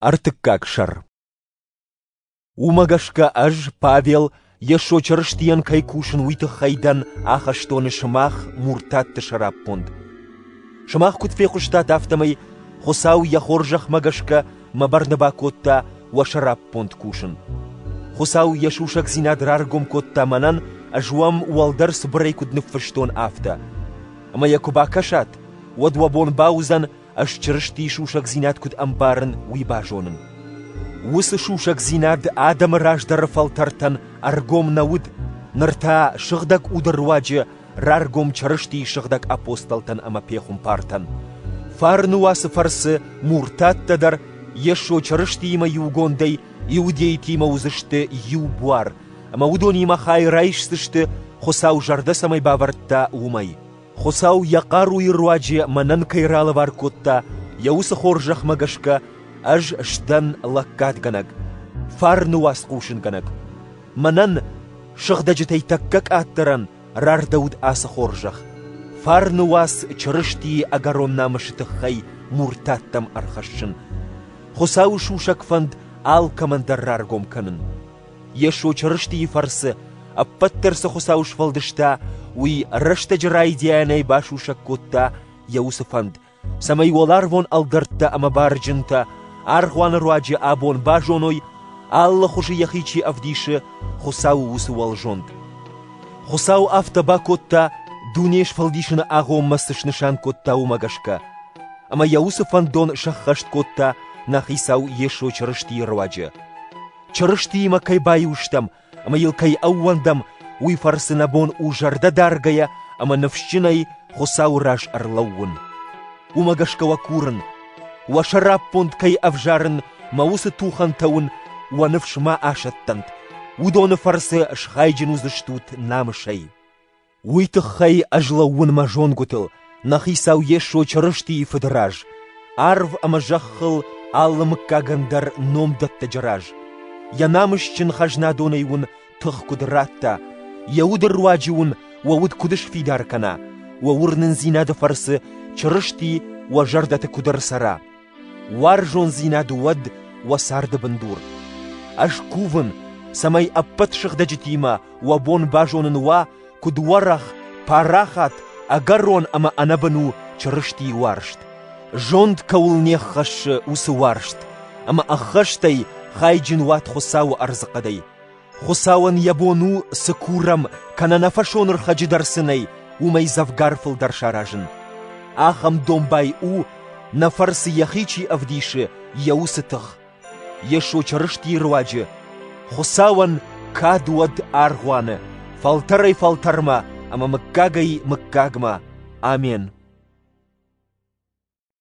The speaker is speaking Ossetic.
Ӕртыккаг сӕр Уымӕ гӕсгӕ ӕз, Павел, Йесо Чырыстийӕн кӕй кусын, уый тыххӕй дӕн ахӕстоны сымах муртатты сӕраппонд. Сымах куыд фехъуыстат, афтӕмӕй Хуыцау йӕ хорзӕхмӕ гӕсгӕ мӕ бӕрны бакодта уӕ сӕраппонд кусын. Хуыцау йӕ сусӕгдзинад раргом кодта мӕнӕн, ӕз уӕм уӕлдӕр цыбырӕй куыд ныффыстон, афтӕ. Ӕмӕ йӕ куы бакӕсат, уӕд уӕ бон бауыдзӕн, ӕз Чырыстийы сусӕгдзинад куыд ӕмбарын, уый базонын. Уыцы сусӕгдзинад адӕмы раздӕры фӕлтӕртӕн ӕргом нӕ уыд, ныр та сыгъдӕг уды руаджы раргом Чырыстийы сыгъдӕг апостолтӕн ӕмӕ пехуымпартӕн. Фарны уацы фӕрцы муртаттӕ дӕр Йесо Чырыстиимӕ иугондӕй иудейтимӕ уыдзысты иу буар, ӕмӕ уыдонимӕ хай райсдзысты, Хуыцау зӕрдӕ цӕмӕй бавӕрдта, уымӕй. Хуыцау йӕ хъаруйы руаджы мӕнӕн кӕй ралӕвар кодта, йӕ уыцы хорзӕхмӕ гӕсгӕ ӕз сдӕн лӕггадгӕнӕг, фарны уацхъусынгӕнӕг. Мӕнӕн сыгъдӕджытӕй тӕккӕ къаддӕрӕн рардӕуыд ацы хорзӕх, фарны уац Чырыстийы ӕгӕрон намысы тыххӕй муртаттӕм ӕрхӕссын, Хуыцауы сусӕг фӕнд алкӕмӕн дӕр раргом кӕнын. Йесо Чырыстийы фӕрцы ӕппӕт дӕр цы Хуыцау сфӕлдыста, уый рӕстӕджы райдианӕй басусӕг кодта йӕ уыцы фӕнд, цӕмӕй уӕларвон ӕлгӕрттӕ ӕмӕ барджынтӕ аргъуаны руаджы абон базоной, алы хуызы йӕхи чи ӕвдисы, Хуыцауы уыцы уӕлзонд. Хуыцау афтӕ бакодта, дуне сфӕлдисыны агъоммӕ цы снысан кодта, уымӕ гӕсгӕ. Ӕмӕ йӕ уыцы фӕндон сӕххӕст кодта нӕ Хицау Йесо Чырыстийы руаджы. Чырыстиимӕ кӕй баиу стӕм ӕмӕ йыл кӕй ӕууӕндӕм, уый фӕрцы нӕ бон у зӕрдӕ даргӕйӕ ӕмӕ ныфсджынӕй Хуыцауы раз ӕрлӕууын. Уымӕ гӕсгӕ уӕ курын, уӕ сӕраппонд кӕй ӕвзарын мӕ уыцы тухӕнтӕ уын уӕ ныфс ма асӕттӕнт, уыдоны фӕрцы схайджын уыдзыстут намысӕй. Уый тыххӕй ӕз лӕууын мӕ зонгуытыл, нӕ хицау Йесо Чырыстийы Фыды раз, арв ӕмӕ зӕххыл алы мыггагӕн дӕр номдӕттӕджы раз. Йӕ намысджын хӕзнадонӕй уын тых куыд радта, йӕ уды руаджы уын уӕ уд куыд сфидар кӕна, уӕ уырнындзинады фӕрцы Чырысти уӕ зӕрдӕты куыд ӕрцӕра. Уарзондзинад уӕд уӕ царды бындур. Ӕз кувын, цӕмӕй ӕппӕт сыгъдӕджытимӕ уӕ бон базонын уа, куыд уӕрӕх, парахат, ӕгӕрон ӕмӕ ӕнӕбын у Чырыстийы уарзт. Зонд кӕуыл не ххӕссы, уыцы уарзт, ӕмӕ ӕххӕстӕй хайджын уат Хуыцауы ӕрдзыхъӕдӕй. Хуыцауӕн йӕ бон у, цы курӕм кӕнӕ нӕ фӕсонырхӕджы дӕр цы нӕй, уымӕй дзӕвгар фылдӕр саразын. Ахӕм домбай у, нӕ фӕрцы йӕхи чи ӕвдисы, йӕ уыцы тых. Йесо Чырыстийы руаджы Хуыцауӕн кад уӕд аргъуаны, фӕлтӕрӕй-фӕлтӕрмӕ ӕмӕ мыггагӕй-мыггагмӕ. Амен.